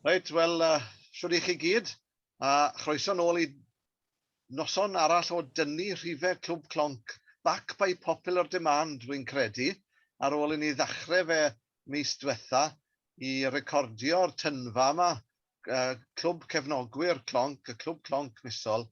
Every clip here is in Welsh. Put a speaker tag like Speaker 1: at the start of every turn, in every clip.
Speaker 1: Reit, wel, uh, siwr i chi gyd, a uh, chroeso nôl i noson arall o dynnu rhifau Clwb Clonc, back by popular demand, rwy'n credu, ar ôl i ni ddechrau fe mis diwetha i recordio'r tynfa yma, uh, Clwb Cefnogwyr Clonc, y Clwb Clonc misol,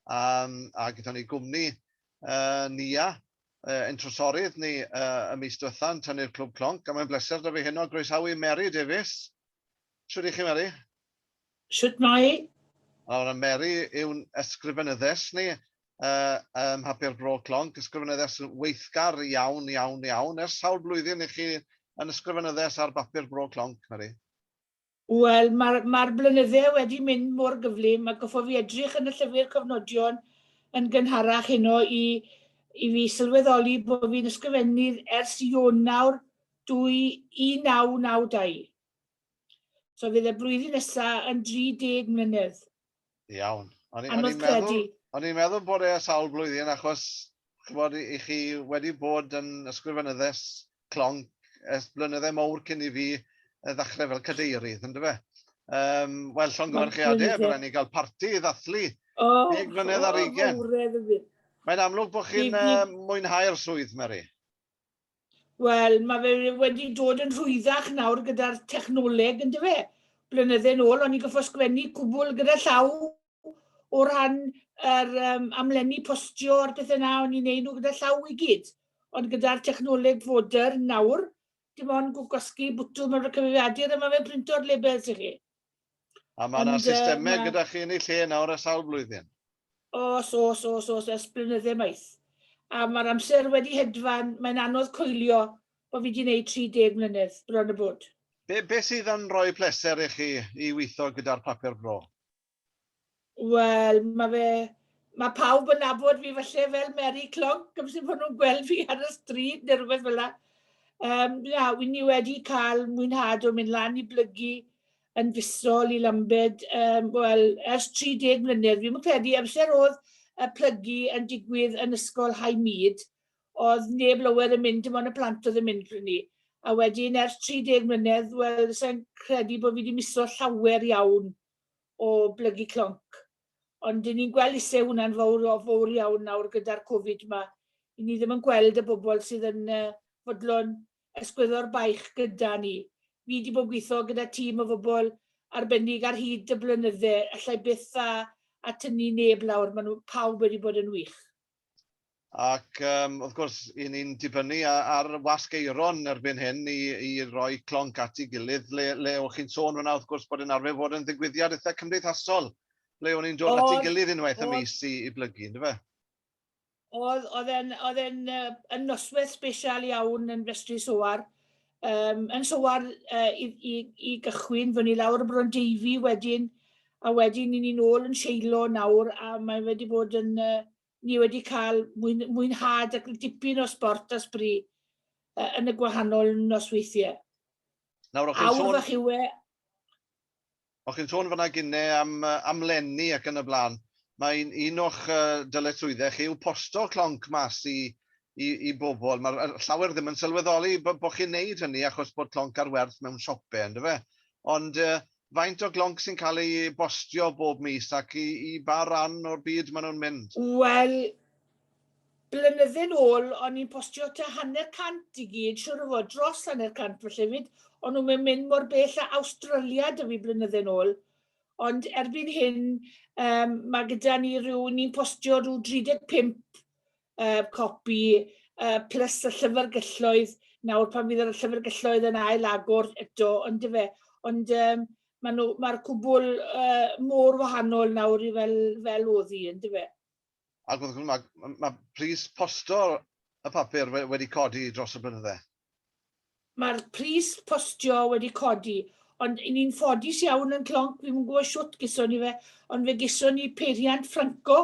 Speaker 1: um, a gyda ni gwmni uh, Nia, uh, ein trosorydd ni uh, y mis diwetha yn tynnu'r clwb clonc, a mae'n bleser da fi heno groesawu Mary Davies. Siwr i chi, Mary? Siwt
Speaker 2: mai? Nawr, Mary
Speaker 1: yw'n ysgrifenyddes ni uh, ym Mhapur Bro Clonc, ysgrifenyddes weithgar iawn, iawn, iawn. Ers sawl blwyddyn i chi yn ysgrifenyddes ar bapur Bro Clonc, Mary? Wel,
Speaker 2: mae'r, mae'r blynydde wedi mynd mor gyflym, ac hoffaf i edrych yn y llyfr cofnodion yn gynharach heno i, i fi sylweddoli bod fi'n ysgrifennydd ers Ionawr 1992. So fydd y blwyddyn nesaf yn 30 mlynedd. Iawn.
Speaker 1: O'n i'n meddwl,
Speaker 2: o'n i'n meddwl bod
Speaker 1: e a sawl blwyddyn achos chybod, i, i chi wedi bod yn ysgrifenyddes clonc ers blynyddau mowr cyn i fi ddechrau fel cadeirydd, yn dyfe? Um, Wel, llongyfarchiadau, a byddwn ni gael parti i ddathlu oh, deg mlynedd ar eigen. Mae'n amlwg bod chi'n uh, mwynhau'r swydd, Mary.
Speaker 2: Wel, mae fe wedi dod yn rhwyddach nawr gyda'r technoleg, yn dyfe? Blynydde yn ôl, o'n i'n goffo sgwennu cwbl gyda llaw o ran yr um, amlenni postio a'r pethau yna, o'n i'n neud nhw gyda llaw i gyd. Ond gyda'r technoleg foder nawr, dim ond gwasgu bwtwm ar y cyfeiriadur a mae fe'n printo'r labels i chi. A mae
Speaker 1: yna systemau ma... gyda chi yn ei lle nawr a sawl blwyddyn? Os,
Speaker 2: os, os, os, ers blynyddau maith. A mae'r amser wedi hedfan, mae'n anodd coelio bod fi wedi gwneud 30 mlynedd bron y bod. Be, be sydd yn
Speaker 1: rhoi pleser i chi i weithio gyda'r papur bro?
Speaker 2: Wel, mae fe... mae pawb yn nabod fi falle fel Mary Clonc, amser bod nhw'n gweld fi ar y stryd neu rhywbeth fel yna. Um, na, wi ni wedi cael mwynhad o mynd lan i blygu yn fusol i Lambed, um, wel, ers 30 mlynedd. Fi'n credu amser oedd y plygu yn digwydd yn ysgol High Mead, oedd neb lower yn mynd, dim ond y plant oedd yn mynd pryd ni. A wedyn ers 30 mlynedd, wel, sa'n credu bod fi wedi miso llawer iawn o blygu clonc. Ond i ni'n gweld isie hwnna'n fowr o fowr iawn nawr gyda'r Covid ma. I ni ddim yn gweld y bobl sydd yn fodlon esgwyddo'r baich gyda ni. Fi di bod yn gwitho gyda tîm o fobl arbennig ar hyd y blynydde, allai byth a a tynnu neb lawr, ma nhw pawb wedi bod yn wych. Ac
Speaker 1: yym wrth gwrs, 'y ni'n dibynnu ar wasg aeron erbyn hyn i i roi clonc at ei gilydd, le le o'ch chi'n sôn fan'na wrth gwrs bod e'n arfer fod yn ddigwyddiad eitha' cymdeithasol, ble o'n ni'n dod at ei gilydd unwaith y mis i i blygu, yndyfe? O'dd, o'dd e'n
Speaker 2: o'dd e'n yy yn nosweth sbesial iawn yn Festri Soar, Um, yn sywar uh, i, i, i gychwyn, fy ni lawr y Bron Deifi wedyn, a wedyn ni'n ni'n ôl yn seilo nawr, a mae wedi bod yn, uh, ni wedi cael mwyn, mwynhad ac dipyn o sport a sbri uh, yn y gwahanol nosweithiau. Nawr, o'ch chi'n sôn... Awr fach yw e,
Speaker 1: O chi'n sôn fan'na gine am yy am lenni ac yn y bla'n, ma' un un o'ch yy dyletswydde chi yw posto clonc mas i i i bobol, ma'r yy llawer ddim yn sylweddoli bo' bo' chi'n neud hynny achos bod clonc ar werth mewn siope on'd yfe? Ond yy faint o glonc sy'n ca'l ei bostio bob mis ac i i ba ran o'r byd ma' nhw'n mynd? Wel,
Speaker 2: Blynydde'n ôl o'n i'n postio tua hanner cant i gyd, siŵr o fod, dros hanner cant falle 'fyd, o'n nhw'm yn mynd mor bell â Awstralia 'da fi blynydde'n ôl. Ond erbyn hyn yym ma' gyda ni ryw, ni'n postio ryw 35 yy copi yy plus y llyfrgelloedd nawr pan fydd y llyfrgelloedd yn ail agor eto yndyfe. Ond yym ma' nhw ma'r cwbwl yy mor wahanol nawr i fel fel o'dd hi yndyfe. ac wrth gwrs
Speaker 1: mae ma pris postio'r y papur wedi codi dros y blynydde. Mae'r
Speaker 2: pris postio wedi codi, ond i ni'n ffodus iawn yn Clonc, fi'n gwybod siwt gyson ni fe, ond fe gyson ni peiriant Franco,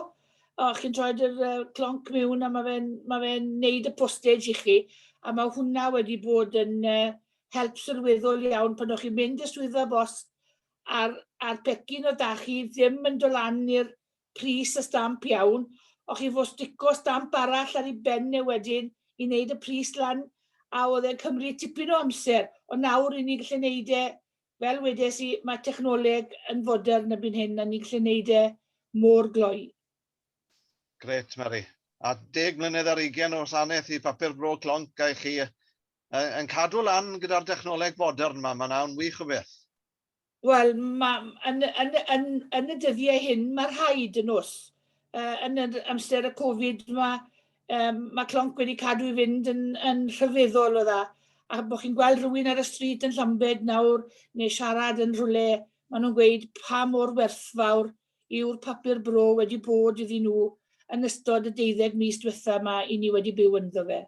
Speaker 2: o, chi'n troed yr uh, clonc mewn a mae fe'n ma fe neud y postage i chi, a mae hwnna wedi bod yn uh, help sylweddol iawn pan o'ch chi'n mynd i'r swyddfa bost a'r, ar pecyn o da chi ddim yn dolannu'r pris y stamp iawn, o chi fo stico stamp arall ar ei ben e wedyn i wneud y pris lan, a oedd e'n cymryd tipyn o amser, ond nawr i ni'n gallu wneud e, fel wedes i, mae technoleg yn fodern erbyn hyn a ni'n gallu wneud e mor gloi.
Speaker 1: Grêt, Mari. A deg mlynedd ar ugain o wasanaeth i Papur Bro Clonc a i chi, yn cadw lan gyda'r dechnoleg fodern 'ma, mae'n awn wych o beth. Wel,
Speaker 2: ma- m- yn y yn y yn yn y dyddie hyn ma' rhaid yn o's? Yy yn yr amser y Covid ma' yym ma' clonc wedi cadw i fynd yn yn rhyfeddol o dda, a bo' chi'n gweld rywun ar y stryd yn Llambed nawr neu siarad yn rhywle, ma' nhw'n gweud pa mor werthfawr yw'r papur bro wedi bod iddyn nhw yn ystod y deuddeg mis diwetha' 'ma 'yn ni wedi byw ynddo fe.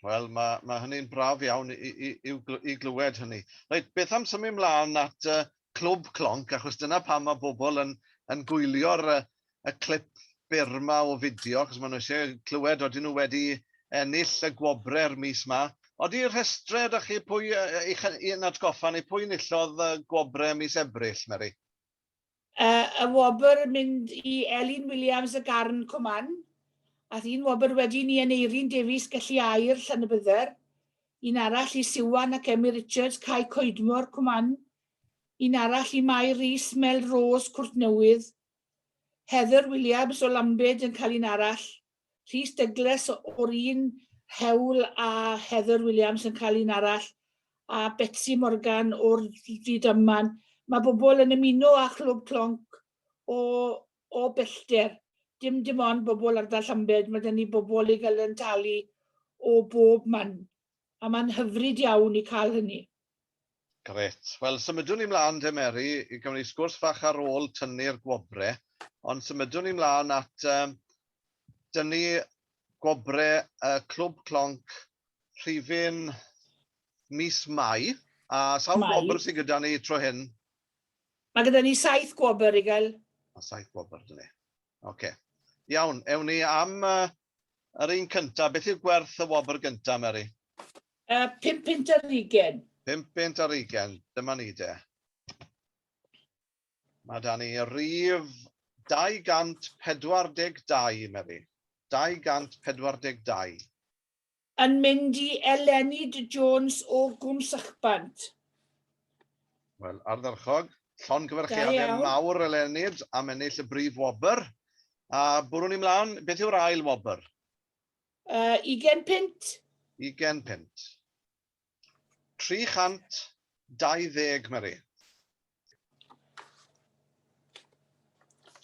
Speaker 2: Wel,
Speaker 1: mae, mae hynny'n braf iawn i, i, i, i glywed hynny. Reit, beth am symud ymlaen at uh, Clwb Clonc, achos dyna pam mae bobl yn, yn gwylio'r uh, y clip byr yma o fideo, achos maen nhw eisiau clywed oedden nhw wedi ennill y gwobrau'r mis yma. Oeddi rhestrau ydych chi pwy, uh, i'ch, i'n atgoffa ni pwy nillodd y gwobrau mis Ebrill, Mary?
Speaker 2: Y wobr yn mynd i Elin Williams y Garn Coman. Ath un wobr wedi ni Aneirin Davies Gelli Aur, Llanybydder. Un arall i Siwan ac Emyr Richards, Cae Coedmor, Coman. Un arall i Mai Rees, Melrose, Cwrt Newydd. Heather Williams o Lambed yn cael un arall. Rhys Douglas o'r un hewl a Heather Williams yn cael un arall, a Betsi Morgan o'r Rhydyman. Mae bobl yn ymuno â Chlwb Clonc o, o bellter. Dim dim ond bobl ardal Llambed, mae 'da ni bobl i gael yn talu o bob man. A mae'n hyfryd iawn i cael hynny. Grêt.
Speaker 1: Wel, symudwn ni mlaen te, Mary, i gawn ni sgwrs fach ar ôl tynnu'r gwobre, ond symudwn ni mlaen at um, dynnu gwobre y uh, Clwb Clonc rhifyn mis Mai. A sawl gwobr sydd gyda ni tro hyn? Mae gyda
Speaker 2: ni saith gwobr i gael. A saith gwobr,
Speaker 1: dyn ni. Oce. Okay. Iawn, ewn ni am uh, Yr un cynta. Beth yw gwerth y wobr gynta, Meri? Yy, pum punt ar
Speaker 2: ugen. Pum punt ar ugen.
Speaker 1: Dyma ni de. Mae da ni rif 242, Meri. 242. Yn
Speaker 2: mynd i eleni Dy Jones o Gwm Sychbant.
Speaker 1: Wel, ardderchog. Llongyfarchiadau mawr eleni am ennill y brif wobr. A bwrw ni mlaen, beth yw'r ail wobr? Yy,
Speaker 2: ugen punt. Ugen punt.
Speaker 1: 320, Mari.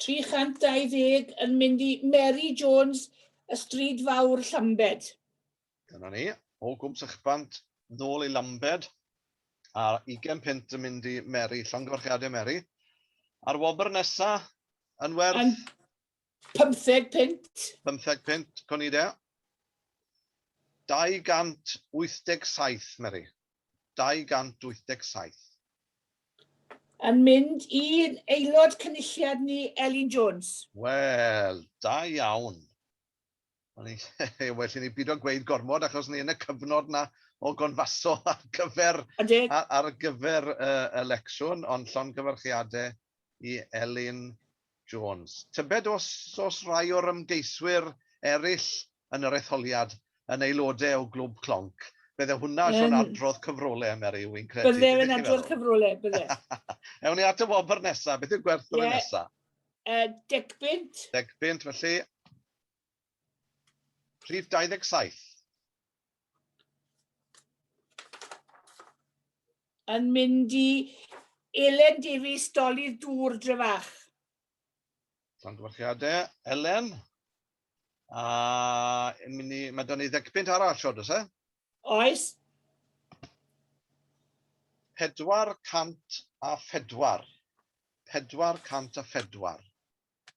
Speaker 1: 320
Speaker 2: yn mynd i Mary Jones, y Stryd Fawr, Llambed. Dyna ni,
Speaker 1: o gwm sychbant, nôl i Lambed, a 20 punt yn mynd i Mary, llongyfarchiadau Mary. A'r wobr nesa yn werth... Yn, Pymtheg
Speaker 2: punt. Pymtheg punt,
Speaker 1: co ni de. 287, Mary. 287.
Speaker 2: Yn mynd i'n aelod cynulliad ni, Elin Jones. Wel,
Speaker 1: da iawn. well i ni byd o gweud gormod achos ni yn y cyfnod na o gonfaso ar gyfer, ar, ar gyfer uh, elecsiwn, ond llon gyfarchiadau i Elin Jones. Tybed os, os rai o'r ymgeiswyr eraill yn yr etholiad yn aelodau o glwb clonc, bydde hwnna um, yn adrodd cyfrolau, Mary, wy'n credu. Bydde yn adrodd cyfrolau,
Speaker 2: bydde. Ewn ni at y
Speaker 1: wobr nesaf, beth yw'r gwerth yeah. nesaf? Uh, deg
Speaker 2: bint. Deg bint, felly
Speaker 1: Rhif 27.
Speaker 2: Yn mynd i Elen Davies, Dolydd Dŵr, Drefach. Llongyfarchiadau,
Speaker 1: Elen. A mynd i, mae da ni ddecpunt arall, siod, oes e? Oes. 404. 404.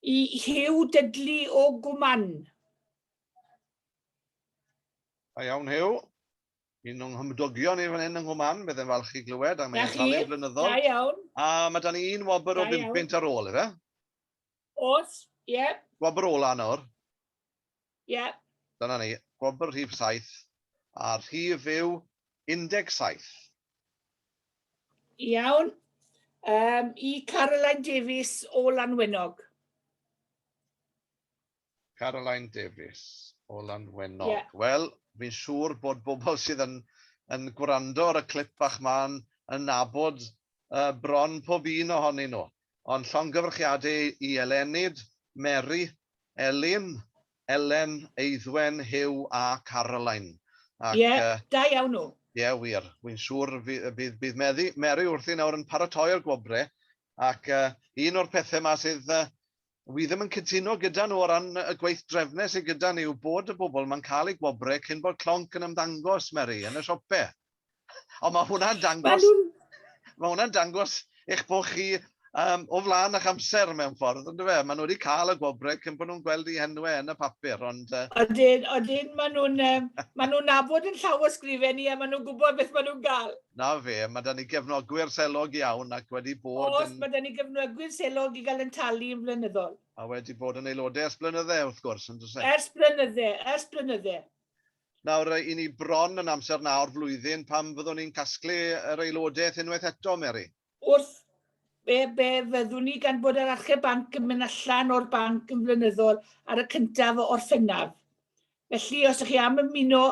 Speaker 2: Y Huw Dudley o Gwmann. Da
Speaker 1: iawn, Huw. Yn o'n nghymdogion ni fan hyn yng Nghwman, byddai'n falch i glywed am ei etholiad flynyddol. Da iawn.
Speaker 2: A
Speaker 1: mae dan ni un wobr o bum pint ar
Speaker 2: ôl,
Speaker 1: efe?
Speaker 2: Os, ie. Wobr ola nawr. Ie. Dyna ni,
Speaker 1: gwobr rhif saith, a'r rhif yw 17. Iawn.
Speaker 2: Yym, i Caroline Davies o Lanwenog.
Speaker 1: Caroline Davies o Lanwenog. Ie. Wel,
Speaker 2: fi'n
Speaker 1: siŵr bod bobl sydd yn yn gwrando ar y clip bach 'ma yn yn nabod yy bron pob un ohonyn nhw. Ond llongyfarchiade i Elenid, Mary, Elin, Elen, Eiddwen, Huw a Caroline. Ac, Ie,
Speaker 2: da iawn nhw. Ie, wir. Wi'n
Speaker 1: siŵr bydd bydd Mary wrthi nawr yn paratoi'r gwobre, ac un o'r pethe 'ma sydd Wi ddim yn cytuno gyda nhw o ran y gweithdrefne sy gyda ni yw bod y bobl ma'n cael eu gwobre cyn bod clonc yn ymddangos, Meri, yn y siope. Ond mae hwnna'n dangos... Mae hwnna'n dangos eich bod chi um, o flaen eich amser mewn ffordd, ond fe? Maen nhw wedi cael y gwobre cyn bod nhw'n gweld eu henwe yn y papur, ond... Uh... Odyn, odyn,
Speaker 2: maen nhw'n um, maen nhw'n nabod yn llawysgrifen ni a maen nhw'n gwybod beth maen nhw'n gael. 'Na fe, ma' 'da ni
Speaker 1: gefnogwyr selog iawn ac wedi bod yn... Oes, ma' 'da ni gefnogwyr
Speaker 2: selog i gael ein talu yn flynyddol. A wedi bod yn
Speaker 1: aelodau ers blynydde, wrth gwrs, yn does e? Ers blynydde, ers
Speaker 2: blynydde. Nawr, 'y
Speaker 1: ni bron yn amser 'na o'r flwyddyn pan fyddwn ni'n casglu yr aelodaeth unwaith eto, Mary. wrth
Speaker 2: be, be fyddwn ni gan bod yr achub banc yn mynd allan o'r banc yn flynyddol ar y cyntaf o Orffennaf. Felly, os ydych chi am ymuno,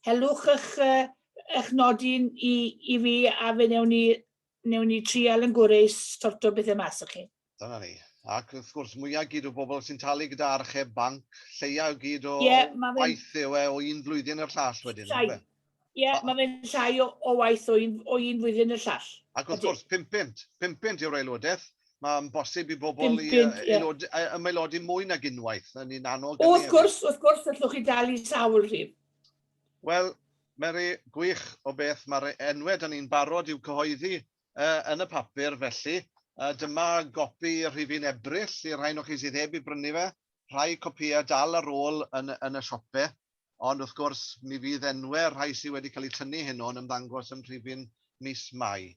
Speaker 2: helwch eich, eich nodyn i, i fi a fe newn ni, newn ni trial yn gwreus sorto bethau mas o chi. Dyna ni. Ac
Speaker 1: wrth gwrs, mwyaf gyd o bobl sy'n talu gyda archeb banc, lleiau o gyd o yeah, waith yw e o un flwyddyn i'r llall wedyn. Ie, yeah, mae fe'n
Speaker 2: llai o, o waith o un, o un flwyddyn i'r llall. Ac wrth gwrs,
Speaker 1: 500, 500 yw'r aelodaeth. Mae'n bosib i bobl i aelod, yeah. ymaelodi mwy nag unwaith, yn un annog. O, wrth gwrs,
Speaker 2: wrth gwrs, allwch chi dal i sawl rhyw. Wel,
Speaker 1: Mary, gwych o beth, mae'r enwau da ni'n barod i'w cyhoeddi Yn y papur, felly, dyma gopi rhifyn Ebrill i'r rhain o chi sydd heb ei brynu fe. Rhai copïau dal ar ôl yn y siope, ond wrth gwrs, mi fydd enwau'r rhai sydd wedi cael eu tynnu heno yn ymddangos yn rhifyn mis Mai.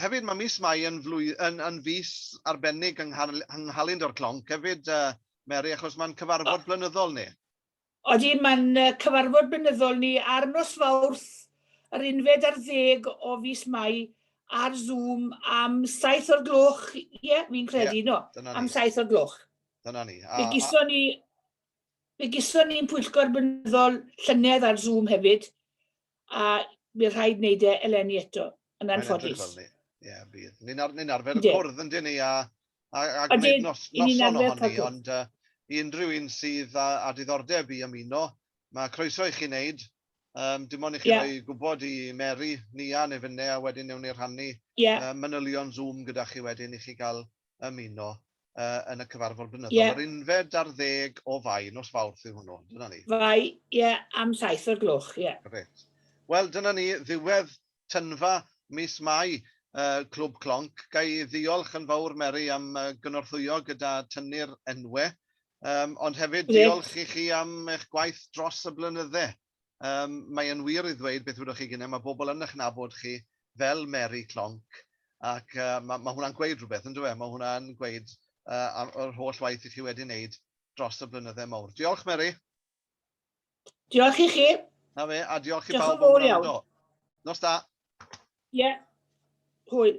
Speaker 1: Hefyd, mae mis Mai yn fis arbennig yng Nghalendr Clonc hefyd, Mary, achos mae'n cyfarfod blynyddol ni. Odi, mae'n
Speaker 2: cyfarfod blynyddol ni ar nos Fawrth yr unfed ar ddeg o fis Mai ar Zoom am saith o'r gloch, ie, fi'n credu, ie, no, am saith o'r gloch. Dyna ni. A, fe
Speaker 1: gyson ni,
Speaker 2: fe gyson ni'n pwyllgor blynyddol llynedd ar Zoom hefyd, a bydd rhaid wneud e eleni eto, yn anffodus. Ie, bydd.
Speaker 1: Ni'n ar, ni arfer y cwrdd yn dyn ni a, a, a gwneud nos, noson ohoni, ond uh, i unrhyw un sydd â, â diddordeb i ymuno, mae croeso i chi wneud. Um, dim ond i chi yeah. roi gwybod i Mary, Nia neu fynne, a wedyn newn ni rhannu yeah. uh, manylion Zoom gyda chi wedyn i chi gael ymuno yn y cyfarfod blynyddol. Yeah. Yr unfed ar ddeg o fai, nos fawrth yw hwnnw, dyna ni. Fai, ie, yeah,
Speaker 2: am saith o'r gloch, ie. Yeah. Gret.
Speaker 1: Wel, dyna ni, ddiwedd tynfa mis Mai, uh, Clwb Clonc. Ga i ddiolch yn fawr, Mary, am uh, gynorthwyo gyda tynnu'r enwau, um, ond hefyd Gret. diolch i chi am eich gwaith dros y blynyddau. Yym, mae e'n wir i ddweud beth wedoch chi gyne, mae bobl yn eich nabod chi fel Mary Clonc, ac yy ma' ma' hwnna'n gweud rhywbeth yndyw e? Ma' hwnna'n gweud yy am yr holl waith i chi wedi wneud dros y blynydde mowr. Diolch Mary!
Speaker 2: Diolch i chi! Na fe, a diolch
Speaker 1: i bawb am wrando. Nos da! Ie, hwyl.